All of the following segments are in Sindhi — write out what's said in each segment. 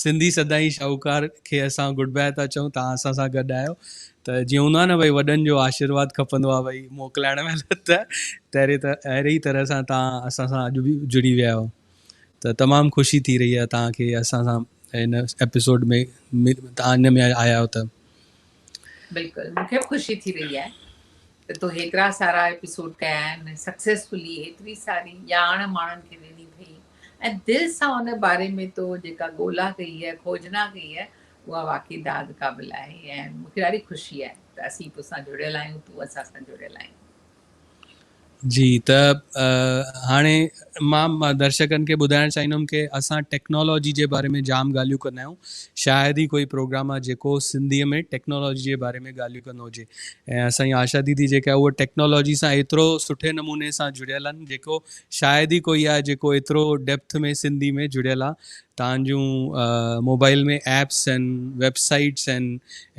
سنڌي سدائين شاهوڪار کي اسان گڊ باء ٿا چئون توهان اسان سان گڏ آهيو ته جيئن هوندو آهي نه ڀئي وڏن جو آشيرواد کپندو آهي ڀئي موڪلائڻ مهل ته تهري ته اهڙي ئي طرح سان توهان اسان سان اڄ به جڙي ويا آهيو ته تمام خوشي ٿي رهي آهي توهان کي اسان سان هن ايپيسوڊ ۾ توهان هن ۾ آيا آهيو ته بلڪل مون کي به خوشي ٿي رهي آهي ته تو هيترا سارا ايپيسوڊ ڪيا آهن سڪسيسفلي هيتري ساري ڄاڻ ماڻهن کي ڏني اٿئي ۽ دل سان ان باري ۾ تو جيڪا ڳولا ڪئي آهي، کوجنا ڪئي آهي، اها واقعي داد قابل آهي ۽ مون کي ڏاڍي خوشي آهي ته اسين تو سان جڙيل آهيون، تون اسان سان جڙيل آهين. جي ته هاڻي مان درشڪن کي ٻڌائڻ چاهيندم ڪي اسان ٽيڪنالاجي جي باري ۾ جام ڳالهيون ڪندا آهيون شايد ئي ڪوئي پروگرام آهي جيڪو سنڌي ۾ ٽيڪنالاجي جي باري ۾ ڳالهيون ڪندو هجي ۽ اسان جي آشا ديدي جيڪا آهي اهو ٽيڪنالاجي سان ايترو سٺي نموني سان جڙيل آهن جيڪو شايد ئي ڪوئي آهي جيڪو ايترو ڊيپٿ ۾ سنڌي ۾ جڙيل آهي تان جون موبائل ۾ ايپس آهن ويب سائيٽس آهن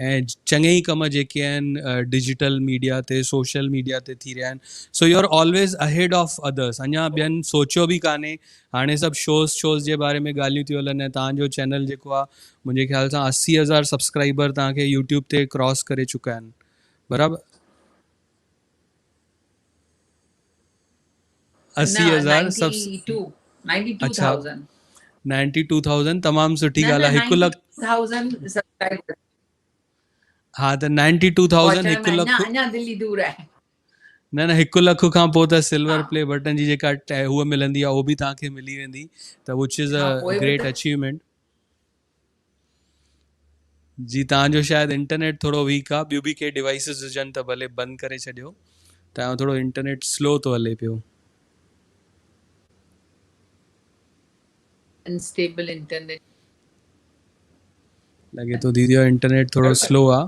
۽ چڱي ئي ڪم جيڪي آهن ڊجيٽل ميڊيا تي سوشل ميڊيا تي ٿي رهيا آهن so you are always ahead of others اڃا ٻين سوچيو به ڪانهي هاڻي سڀ شوز شوز جي باري ۾ ڳالهيون ٿيون هلن ۽ تان جو چينل جيڪو آهي منهنجي خيال سان اسي هزار سبسڪرائبر تان کي يوٽيوب تي ڪراس ڪري چڪا آهن برابر اسي هزار نائنٽي ٽو ٿاؤزنڊ تمام سٺي ڳالھ آ هڪ لک ها ته نائنٽي ٽو ٿاؤزنڊ هڪ لک اڃا دلي دور آهي نه نه هڪ لک کان پوء ته سلور پلي بٽن جي جيڪا هو ملندي آ اهو به توهان کي ملي ويندي ته وچ از ا گريٽ اچيومينٽ جي توهان جو شايد انٽرنيٽ ٿورو ويڪ آ ٻيو به ڪي ڊوائسز هجن ته ڀلي بند ڪري ڇڏيو توهان جو ٿورو انٽرنيٽ سلو ٿو هلي پيو. Unstable internet. لڳي ٿو ديدي جو انٽرنيٽ ٿورو سلو آ.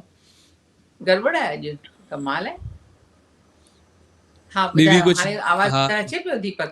گڙٻڙ آهي اڄ ڪمال آهي. ها ٻڌايو هاڻي آواز اچي پيو ديپڪ.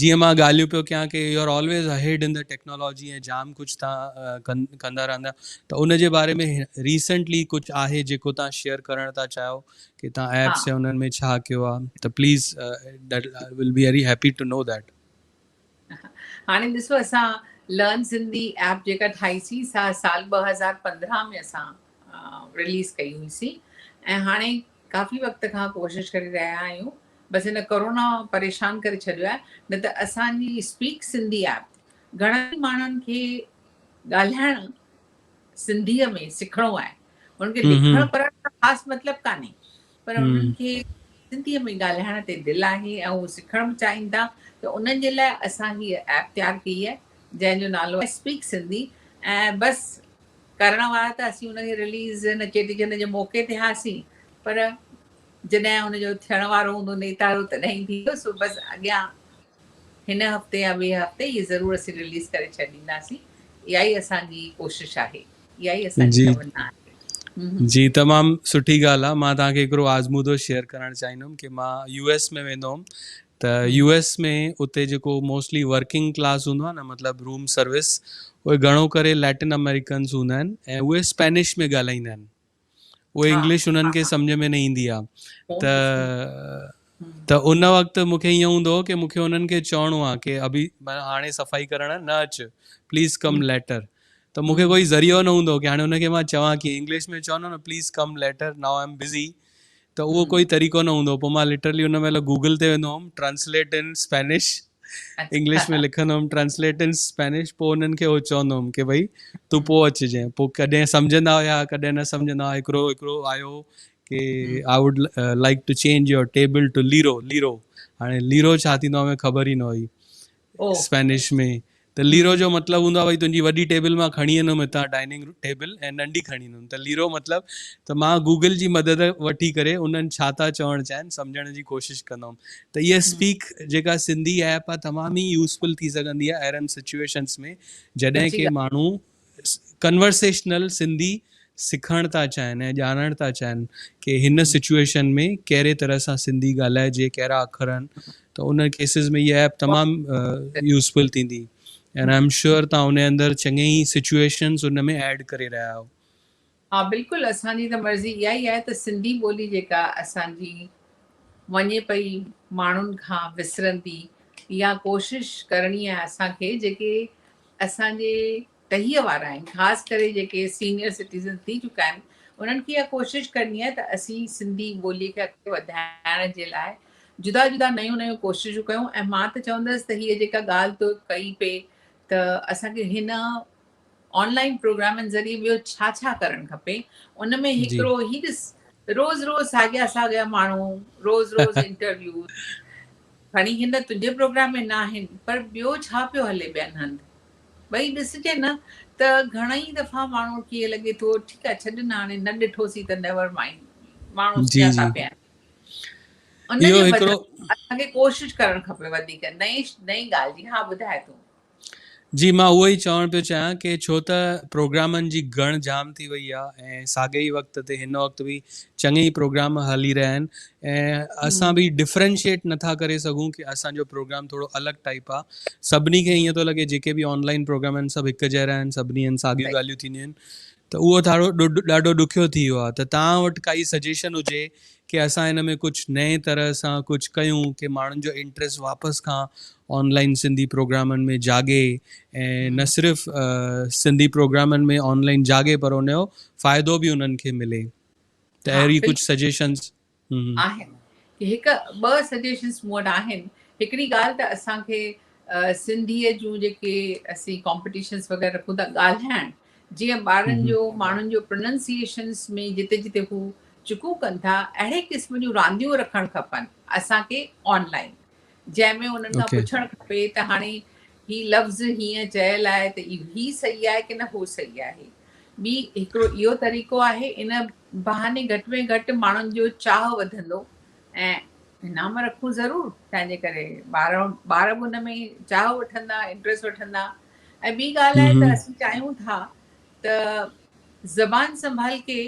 جيئن مان ڳالهيون پيو ڪيان ڪي you are always ahead in the technology ۽ جام ڪجهه تان ڪندا رهندا ته ان جي باري ۾ ريسنٽلي ڪجهه آهي جيڪو تان شيئر ڪرڻ ٿا چاهيو ڪي تان ايپس يا انن ۾ ڇا ڪيو آ ته please that will be very happy to know that هاڻي ڏسو اسان لرن سنڌي ايپ جيڪا ٺاهي سي سا سال 2015 ۾ اسان ريليز ڪئي هئي سي ۽ هاڻي ڪافي وقت کان ڪوشش ڪري رهيا آهيون بس هن ڪورونا پريشان ڪري ڇڏيو آهي نه ته اسان جي اسپيڪ سنڌي ايپ گهڻن ئي ماڻهن کي ڳالهائڻ سنڌي ۾ سکڻو آهي انهن کي لکڻ پڙهڻ جو خاص مطلب ڪانهي پر انهن کي سنڌي ۾ ڳالهائڻ تي دل آهي ۽ هو سکڻ به چاهين ٿا ته انهن جي لاء اسان هي ايپ تيار ڪئي آهي جنهن جو نالو اسپيڪ سنڌي ۽ بس ڪرڻ وارا ته اسين ان جي رليز ان چيٽي چنڊ جي موقعي تي هئاسين پر جڏهن ان جو ٿيڻ وارو هوندو نيتارو تڏهن ئي ٿيندو سو بس اڳيان هن هفتي يا ٻئي هفتي هي ضرور اسين رليز ڪري ڇڏينداسين اها ئي اسان جي ڪوشش آهي اها ئي اسان جي تمنا آهي. جي تمام سٺي ڳالهه آهي مان توهان کي هڪڙو آزمودو شيئر ڪرڻ چاهيندم ڪي مان يو ايس ۾ ويندو هوم ته يو ايس ۾ اتي جيڪو موسٽلي ورڪنگ ڪلاس هوندو آهي نه مطلب روم سروس اهي گهڻو ڪري ليٽن امريڪنس هوندا آهن ۽ اهي اسپينش ۾ ڳالهائيندا آهن اهي انگلش انهن کي سمجھ ۾ نه ايندي آهي ته ته ان وقت مون کي ائين هوندو هو ڪي مون کي انهن کي چوڻو آهي ڪي ابي هاڻي صفائي ڪرڻ نه اچ پليز ڪم ليٽر ته مون کي ڪوئي ذريعو نه هوندو هو ڪي هاڻي ان کي مان چوان ڪي انگلش ۾ چوندو نه please come later now I am busy ته اهو ڪوئي طريقو نه هوندو پوء مان لٽرلي ان مهل گوگل تي ويندو home translate in Spanish English ۾ لکندو هوم ٽرانسليٽ ان اسپينش پوء انهن کي هو چوندو هوم ڪي ڀئي تون پوء اچجين پوء ڪڏهن سمجهندا هيا ڪڏهن نه سمجهندا هيا هڪڙو هڪڙو آيو ڪي I would like to change your table to ليرو ليرو هاڻي ليرو ڇا ٿيندو آهي خبر ئي نه هئي اسپينش ۾ ته ليرو جو مطلب هوندو آهي ڀاء تنهنجي وڏي ٽيبل مان کڻي ايندم هتان ڊائننگ ٽيبل ۽ ننڍي کڻي ايندم ته ليرو مطلب ته مان گوگل جي مدد وٺي ڪري انهن ڇا ٿا چوڻ چاهين سمجهڻ جي ڪوشش ڪندم ته هيء اسپيڪ جيڪا سنڌي ايپ آهي تمام ئي يوزفل ٿي سگهندي آهي اهڙن سچويشنس ۾ جڏهن ڪي ماڻهو ڪنورسيشنل سنڌي سکڻ ٿا چاهن ۽ ڄاڻڻ ٿا چاهن ڪي هن سچويشن ۾ ڪهڙي طرح سان سنڌي ڳالهائجي ڪهڙا اکر آهن ته ان ڪيسز ۾ هي ايپ تمام يوزفل ٿيندي اينڊ آئي ايم شيور تان ان اندر چڱي ئي سچويشنز ان ۾ ايڊ ڪري رهيا آهيو ها بلڪل اسان جي ته مرضي اها ئي آهي ته سنڌي ٻولي جيڪا اسان جي وڃي پئي ماڻهن کان وسرندي اها ڪوشش ڪرڻي آهي اسان کي جيڪي اسان جي ٽهيء وارا آهن خاص ڪري جيڪي سينيئر سٽيزنس ٿي چڪا آهن انهن کي اها ڪوشش ڪرڻي آهي ته اسين سنڌي ٻولي کي اڳتي وڌائڻ جي لاء جدا جدا نيون نيون ڪوششون ڪيون ۽ مان ته چوندس ته هيء جيڪا ڳالهه تو ڪئي پئي ته اسان کي هن آن لائين پروگرامن ذريعي ٻيو ڇا ڇا ڪرڻ کپي ان ۾ هڪڙو هي ڏس روز روز ساڳيا ساڳيا ماڻهو روز روز انٽرويو کڻي هن تنهنجي پروگرام ۾ نه آهن پر ٻيو ڇا پيو هلي ٻين هنڌ ٻئي ڏسجي نه ته گهڻائي دفعا ماڻهو کي لڳي ٿو ٺيڪ آهي ڇڏ نه هاڻي نه ڏٺوسي ته نيور مائنڊ ماڻهو جي جي پيا ان جو هڪڙو اسان کي ڪوشش ڪرڻ کپي وڌيڪ نئين نئين ڳالهه جي ها ٻڌاء تون جي مان اهو ئي چوڻ پيو چاهيان ڪي ڇو ته پروگرامن جي گهڻ جام ٿي وئي آ ۽ ساڳئي ئي وقت تي هن وقت به چڱي ئي پروگرام هلي رهيا آهن ۽ اسان به ڊفرينشيٽ نٿا ڪري سگهون ڪي اسان جو پروگرام ٿورو الڳ ٽائيپ آ سڀني کي ائين ٿو لڳي جيڪي به آن لائين پروگرام آهن سڀ هڪ جهڙا آهن سڀني هن ساڳيون ڳالهيون ٿينديون آهن ته اهو ٿاڙو ڏاڍو ڏکيو ٿي ويو آهي ته توهان وٽ ڪائي سجيشن هجي ڪي اسان هن ۾ ڪجهه نئين طرح سان ڪجهه ڪيون ڪي ماڻهن جو انٽريسٽ واپس کان آن لائين سنڌي پروگرامن ۾ جاڳي ۽ نه صرف سنڌي پروگرامن ۾ آن لائين جاڳي پر ان جو فائدو به انهن کي ملي ته اهڙي ڪجهه سجيشنس آهن ڪي هڪ ٻه سجيشنس مون وٽ آهن هڪڙي ڳالهه ته اسان کي سنڌي جون جيڪي اسين ڪامپيٽيشنس وغيره رکون ٿا ڳالهائڻ جيئن ٻارن جو ماڻهن جو پروننسيشنس ۾ جتي جتي هو چڪون ڪن ٿا اهڙي قسم جون رانديون رکڻ کپن اسان کي آن لائن جنهن ۾ انهن کان پڇڻ کپي ته هاڻي هي لفظ هيئن چيل آهي ته هي صحيح آهي ڪنه هو صحيح آهي. ٻي هڪڙو اهو طريقو آهي، ان بهاني گهٽ ۾ گهٽ ماڻهن جو چاهه وڌندو ۽ انعام رکون ضرور تنهنجي ڪري ٻار ٻار به ان ۾ چاهه وٺندا انٽرسٽ وٺندا ۽ ٻي ڳالهه آهي ته اسين چاهيون ٿا ته زبان سنڀال ڪي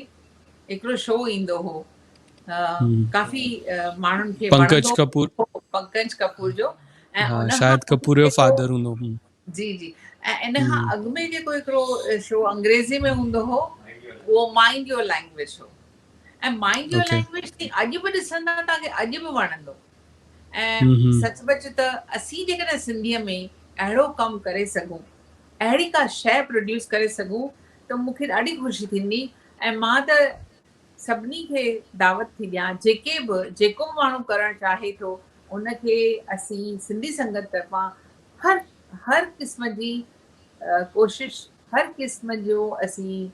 هڪڙو شو ايندو هو ڪافي ماڻهن کي پنڪج ڪپور پنڪج ڪپور جو ۽ شايد ڪپور جو فادر هوندو جي جي ۽ ان کان اڳ ۾ جيڪو هڪڙو شو انگريزي ۾ هوندو هو اهو مائنڊ يور لينگويج هو ۽ مائنڊ يور لينگويج تي اڄ به ڏسندا تاڪي اڄ به وڻندو ۽ سچ پچ ته اسين جيڪڏهن سنڌيء ۾ اهڙو ڪم ڪري سگهون، اهڙي ڪا شيء پروڊيوس ڪري سگهون ته مون کي ڏاڍي خوشي ٿيندي ۽ مان ته سڀني کي دعوت ٿي ڏيان جيڪي به جيڪو به ماڻهو ڪرڻ چاهي ٿو ان کي اسين سنڌي سنگت طرفان هر هر قسم جي ڪوشش هر قسم جو اسين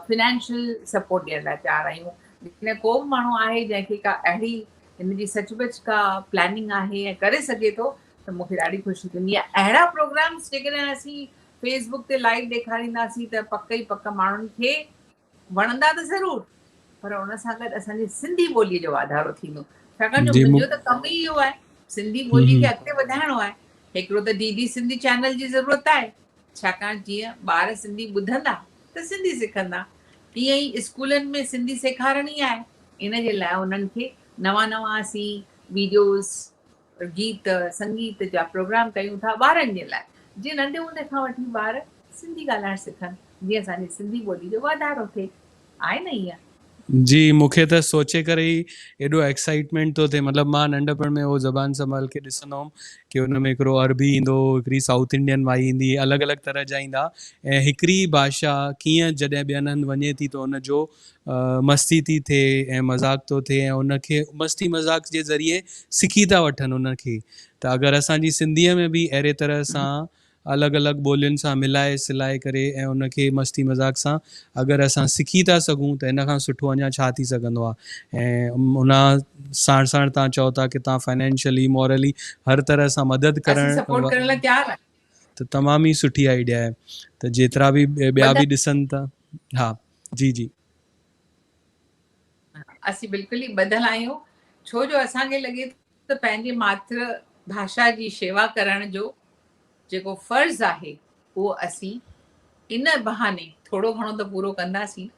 فنانشل سپورٽ ڏيڻ لاء تيار آهيون جيڪڏهن ڪو به ماڻهو آهي جنهن کي ڪا اهڙي هن جي سچ پچ ڪا پلاننگ آهي ۽ ڪري سگهي ٿو ته مون کي ڏاڍي خوشي ٿيندي يا اهڙا پروگرامز جيڪڏهن اسين فيس بڪ تي لائيو ڏيکارينداسين ته پڪ ئي پڪ ماڻهن کي وڻندا ته ضرور پر ان سان گڏ اسان جي سنڌي ٻولي جو واڌارو ٿيندو ڇاڪاڻ جو منهنجو ته ڪم ئي اهو آهي سنڌي ٻولي کي اڳتي وڌائڻو آهي هڪڙو ته ڊي ڊي سنڌي چينل جي ضرورت آهي ڇاڪاڻ جيئن ٻار سنڌي ٻڌندا ته سنڌي سکندا تيئن ئي اسڪولن ۾ سنڌي سيکارڻي آهي ان جي لاء انهن کي نوان نوان اسين ويڊيوز گيت سنگيت جا پروگرام ڪيون ٿا ٻارن جي لاء جيئن ننڍي هوندي کان وٺي ٻار سنڌي ڳالهائڻ سکن جيئن اسان جي سنڌي ٻولي جو واڌارو ٿئي. آهي نه اها. جي مون کي ته سوچي ڪري ئي ايڏو ايڪسائيٽمينٽ ٿو ٿئي مطلب مان ننڍپڻ ۾ اهو زبان سنڀال کي ڏسندو هوم ڪي ان ۾ هڪڙو عربي ايندو هو هڪڙي سائوٿ انڊين مائي ايندي هئي الڳ الڳ طرح جا ايندا ۽ هڪڙي ئي ڀاشا ڪيئن جڏهن ٻين هنڌ وڃي ٿي ته ان جو مستي ٿي ٿئي ۽ مذاق ٿو ٿئي ۽ ان کي مستي مذاق جي ذريعي سکي ٿا وٺن ان کي ته اگر اسان جي سنڌي ۾ به اهڙي طرح سان الڳ الڳ ٻولين سان ملائي سلائي ڪري ۽ ان کي مستي مذاق سان اگر اسان سکي ٿا سگهون ته ان کان سٺو اڃا ڇا ٿي سگهندو آهي ۽ ان ساڻ ساڻ تان چئو ٿا ڪي تان فنانشلي مورلي هر طرح سان مدد ڪرڻ ته تمام ئي سٺي آئيڊيا آهي ته جيترا به ٻيا به ڏسن ٿا ها جي جي. اسين بلڪل ئي ٻڌل آهيون ڇو جو اسان کي لڳي ٿو. ته پنهنجي ماٿر ڀاشا جي شيوا ڪرڻ جو جيڪو فرض آهي اهو اسين ان بهاني ٿورو گهڻو ته پورو ڪنداسين نه.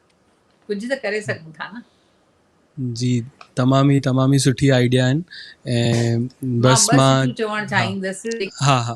ڪجهه ته ڪري سگهون ٿا نه. جي تمام ئي تمام ئي سٺي آئيڊيا آهن ۽ بس مان ٻه سٽيون چوڻ چاهيندس. ها ها.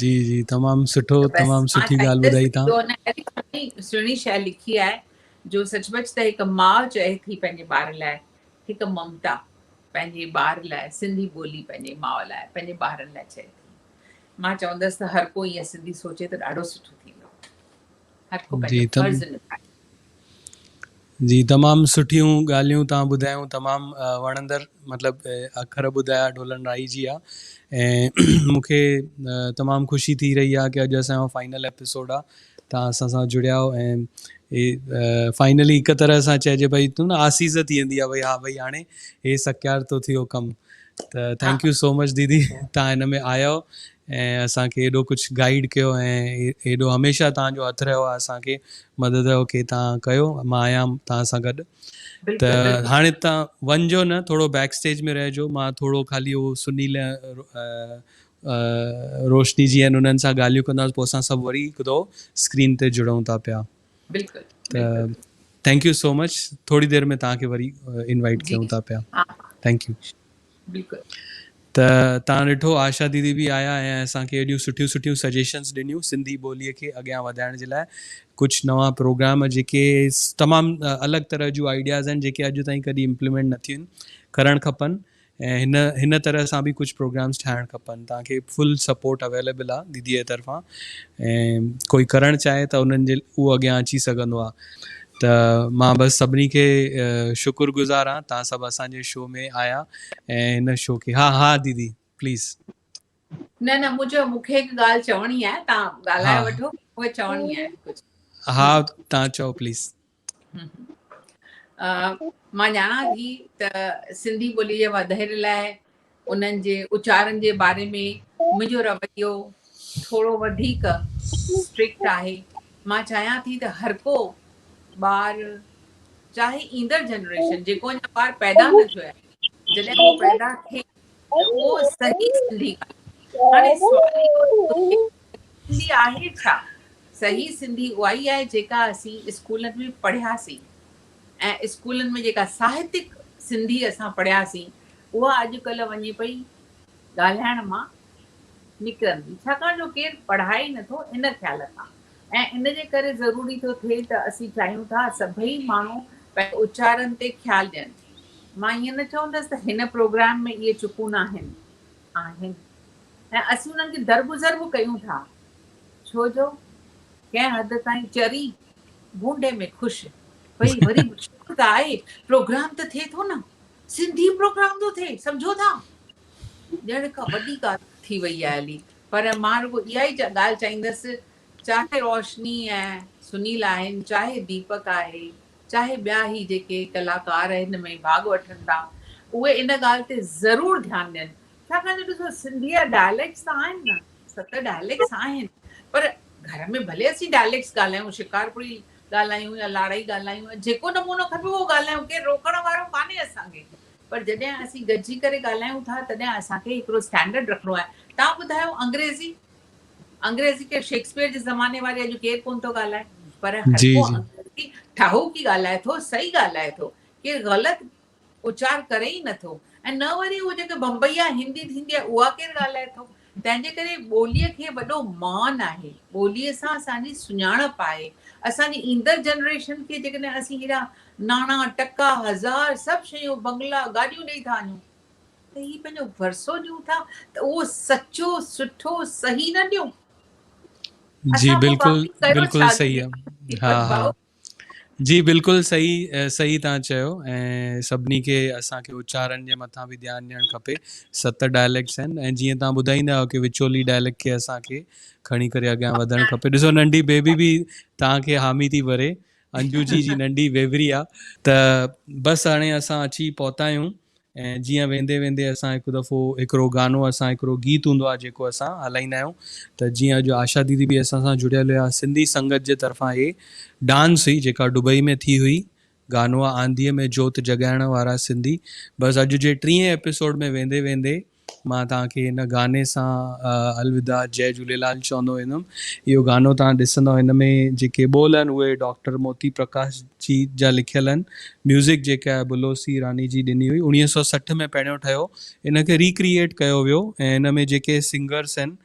جي جي تمام سٺو ته بس تمام مان سٺي ڳالهه چاهيندس ٻڌائي جو تان. ان اهڙي سهڻي سهڻي شئي لکي آهي جو سچ پچ ته هڪ ماء چئي ٿي پنهنجي ٻار لاء هڪ ممتا پنهنجي ٻار لاء سنڌي ٻولي پنهنجي ماء لاء پنهنجي ٻارن لاء چئي ٿي مان چوندس ته هر ڪو ائين سنڌي سوچي ته ڏاڍو سٺو ٿيندو. هر ڪو پنهنجو فرض نڀائي. جي تمام سٺيون ڳالهيون توهان ٻڌايون تمام وڻندڙ مطلب اکر ٻڌايا ڍولن رائي جي آ ۽ مونکي تمام خوشي ٿي رهي آ ڪي اڄ اسان جو فائنل ايپيسوڊ آ توهان اسان سان جڙيا آهيو ۽ فائنلي هڪ طرح سان چئجي پئي ٿو نه آسيز ٿي ويندي آ ڀئي ها ڀئي هاڻي هي سکيار ٿو ٿيو ڪم ته ٿينڪ يو سو مچ ديدي تان هن ۾ آيو ۽ اسان کي ايڏو ڪجھ گائيڊ ڪيو ۽ ايڏو هميشه تان جو هٿ رهيو آ اسان کي مدد رهيو کي تان ڪيو مان آهيان تان سان گڏ ته هاڻي تان ونجو نه ٿورو بيڪ اسٽيج ۾ رهجو مان ٿورو خالي هو سنيل روشني جي انهن سان ڳالهيون ڪنداس پو اسان سڀ وري هڪ دو اسڪرين تي جڙون ٿا پيا بلڪل ته ٿينڪ يو سو مچ ٿوري دير ۾ توهان کي وري انوائيٽ ڪيون ٿا پيا ٿينڪ يو بلڪل ته توهان ڏٺو آشا ديدي به آيا ۽ اسان کي اهڙيون سٺيون سٺيون سجيشنس ڏنيون سنڌي ٻوليء کي اڳيان وڌائڻ جي لاء ڪجهه نوان پروگرام جيڪي تمام الڳ طرح جون آئيڊياز آهن جيڪي اڄ تائين ڪڏهن امپلمينٽ نه ٿيون ڪرڻ کپن ۽ هن هن طرح سان به ڪجهه پروگرامز ٺاهڻ کپن توهان کي فل سپورٽ اويليبل آ ديديء جي طرفان ۽ ڪوئي ڪرڻ چاهي ته انهن جي اهو اڳيان اچي سگهندو آ ته مان بس سڀني کي شڪر گذار آ توهان سڀ اسان جي شو ۾ آيا ۽ هن شو کي ها ها ديدي پليز. نه نه مون چيو مون کي هڪ ڳالهه چوڻي آهي توهان ڳالهائي وٺو مون کي چوڻي آهي ڪجهه. ها توهان چئو پليز. مان ڄاڻان ٿي ته سنڌي ٻولي جي وڌير لاء انهن جي اچارن جي باري ۾ منهنجو رويو ٿورو وڌيڪ اسٽرڪٽ آهي مان چاهيان ٿي ته هر ڪو ٻار چاهي ايندڙ جنريشن جيڪو اڃا ٻار پيدا نه ٿيو آهي جڏهن هو پيدا ٿي اهو صحيح سنڌي آهي. هاڻي سوال اهو ٿو اٿي ته سنڌي آهي ڇا؟ صحيح سنڌي اها ئي آهي جيڪا اسين اسڪولن ۾ پڙهياسين ۽ اسڪولن ۾ جيڪا ساهتڪ سنڌي اسان پڙهياسين اها اڄڪلهه وڃي پئي ڳالهائڻ مان نڪرندي ڇاڪاڻ جو ڪير پڙهائي نٿو ان خيال کان ۽ ان جي ڪري ضروري ٿو ٿئي ته اسين چاهيون ٿا سڀئي ماڻهو پنهنجي اچارن تي خيال ڏين. مان ائين نه چوندس ته هن پروگرام ۾ اهي چڪون ناهن، آهن ۽ اسين انهن کي درگذر به ڪيون ٿا ڇو جو ڪنهن حد تائين چري ڀونڊي ۾ خوش پئي وري به شڪر ته آهي پروگرام ته ٿئي ٿو نه سنڌي پروگرام ٿو ٿئي سمجهو ٿا ڄڻ ڪا وڏي ڳالهه ٿي وئي آهي علي پر مان رڳو اها ئي ڳالهه چئيندس، چاهي روشني ۽ سنيل آهن، چاهي ديپڪ آهي، چاهي ٻيا هي جيڪي ڪلاڪار هن ۾ ڀاڳ وٺن ٿا، اهي ان ڳالهه تي ضرور ڌيان ڏين. ڇاڪاڻ جو ڏسو سنڌي جا ڊائليڪٽس ته آهن نه، ست ڊائليڪٽس آهن، پر گهر ۾ ڀلي اسين ڊائليڪٽس ڳالهايون، شڪارپوري ڳالهايون يا لاڙائي ڳالهايون، جيڪو نمونو کپي اهو ڳالهايون، ڪير روڪڻ وارو ڪانهي اسان کي. پر جڏهن اسين گڏجي ڪري ڳالهايون ٿا تڏهن اسان کي هڪڙو اسٽينڊرڊ رکڻو آهي. توهان ٻڌايو انگريزي انگريزي ڪير شيڪسپيئر جي زماني واري اڄ ڪير ڪون ٿو ڳالهائي پر هر جي ڪو جي. انگريزي ٺاهوڪي ڳالهائي ٿو صحيح ڳالهائي ٿو ڪير غلط اچار ڪري ئي نه ٿو ۽ نه وري هو جيڪي بمبئيا هندي ٿيندي آهي اها ڪير ڳالهائي ٿو تنهن جي ڪري ٻوليء کي وڏو مان آهي. ٻوليء سان اسان جي سڃاڻپ آهي. اسان جي ايندڙ جنريشن کي جيڪڏهن اسين هيڏا ناڻا، ٽڪا، هزار، سڀ شيون، بنگلا، گاڏيون ڏيئي ٿا وڃون ته هي پنهنجو ورثو ڏيون ٿا ته اهو سچو، سٺو، صحيح نه ڏيون؟ جي اسان پوء بلڪل باقي ڪيو بلڪل ڇا؟ صحيح آ. ها ها. جي بلڪل صحيح صحيح تهان چيو ۽ سڀني کي اسان کي اچارن جي مٿان به ڌيان ڏيڻ کپي ست ڊائليڪٽس آهن ۽ جيئن تهان ٻڌائيندا آهيو ڪي وچولي ڊائليڪٽ کي اسان کي کڻي ڪري اڳيان وڌڻ کپي ڏسو ننڍي بيبي به تهان کي حامي ٿي ڀري انجو جي جي ننڍي ويوري آ ته بس هاڻي اسان اچي پهتا آهيون ۽ جيئن ويندي ويندي اسان هڪ دفعو هڪڙو گانو اسان هڪڙو گيت هوندو آهي جيڪو اسان هلائيندا آهيون ته جيئن اڄ آشا ديدي به اسان سان جڙيل هيا سنڌي سنگت جي طرفان هي ڊانس هئي جيڪا ڊبئي ۾ ٿي هئي گانو آنڌيء ۾ جوت جڳائڻ وارا سنڌي بس اڄ جي ٽينهين ايپيسوڊ ۾ ويندي ويندي مان توهان کي هن گاني سان الوداع جئي جهوليلال چوندو ويندم اهو گانو توهان ڏسندو هن ۾ جيڪي ٻول آهن اهي ڊاڪٽر موتي پرڪاش جي جا لکيل آهن ميوزڪ جيڪي آهي بلوسي راني جي ڏني هئي اوڻيهه سؤ سٺ ۾ پهريون ٺهيو ان کي ريڪريئيٽ ڪيو ويو ۽ هن ۾ جيڪي سنگرس آهن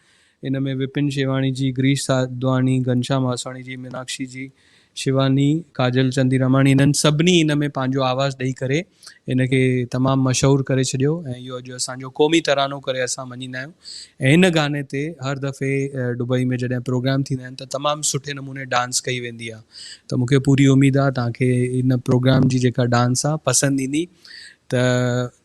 ان ۾ وپن شيواڻي جي، گريش ساڌواڻي، گهنشام هاسواڻي جي، ميناڪشي جي، شيواني، ڪاجل چنديراماڻي انهن سڀني ان ۾ پنهنجو آواز ڏئي ڪري ان کي تمام مشهور ڪري ڇڏيو ۽ اهو اڄ اسان جو قومي ترانو ڪري اسان مڃيندا آهيون ۽ هن گاني تي هر دفعي ڊبئي ۾ جڏهن پروگرام ٿيندا آهن ته تمام سٺي نموني ڊانس ڪئي ويندي آهي ته مون کي پوري اميد آهي توهان کي ان پروگرام جي جيڪا ڊانس آهي پسند ايندي ته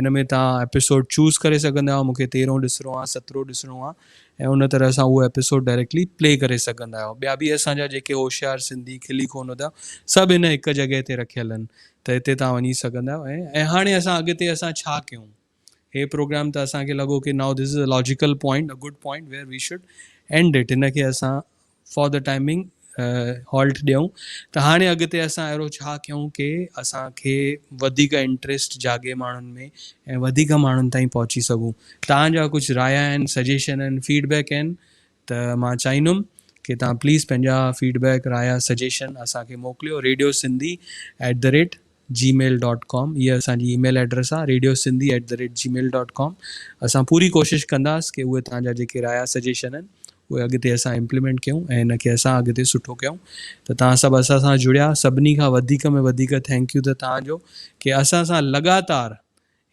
ان ۾ توهان ايپيسوڊ چوز ڪري سگهندا آهيو مونکي تيرهون ڏسڻو آهي سترهون ڏسڻو آهي ۽ ان طرح سان اهو ايپيسوڊ ڊائريڪٽلي پلي ڪري سگهندا آهيو ٻيا به اسان جا جيڪي هوشيار سنڌي کلي ڪون هوندا سڀ هن هڪ جڳهه تي رکيل آهن ته هتي توهان وڃي سگهندا آهيو ۽ ۽ هاڻي اسان اڳتي اسان ڇا ڪيون هي پروگرام ته اسان کي لڳو ڪي now this is a logical point a good point where we should end it هن کي اسان فار دي ٽائمنگ هالٽ ڏيون ته هاڻي اڳتي اسان اهڙو ڇا ڪيون ڪي اسان کي وڌيڪ انٽريسٽ جاڳي ماڻهن ۾ ۽ وڌيڪ ماڻهن تائين پهچي سگهون توهان جا ڪجهه رايا آهن سجيشن آهن فيڊ بيڪ آهن ته مان چاهيندم ڪي توهان پليز پنهنجا فيڊ بيڪ رايا سجيشن اسان کي موڪليو radio Sindhi at the rate Gmail dot com هيء اسان جي اي ميل ايڊريس آهي radio Sindhi at the rate Gmail dot com اسان پوري ڪوشش ڪنداس ڪي اهي توهان جا جيڪي رايا سجيشن آهن اهي اڳتي اسان امپليمينٽ ڪيون ۽ هن کي اسان اڳتي سٺو ڪيون ته توهان سڀ اسان سان جڙيا سڀني کان وڌيڪ ۾ وڌيڪ ٿينڪ يو ته توهان جو ڪي اسان سان لڳاتار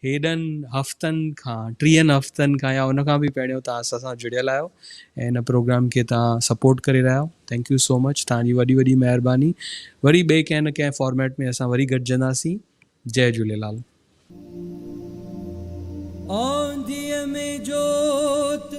هيڏن هفتن کان ٽيهن هفتن کان يا ان کان به پهريون توهان اسان سان جڙيل آهيو ۽ هن پروگرام کي توهان سپورٽ ڪري رهيا آهيو ٿينڪ يو سو مچ توهان جي وڏي وڏي مهرباني وري ٻئي ڪنهن نه ڪنهن فارميٽ ۾ اسان وري گڏجنداسين جئي جهوليلال. آنڌيء ۾ جوت.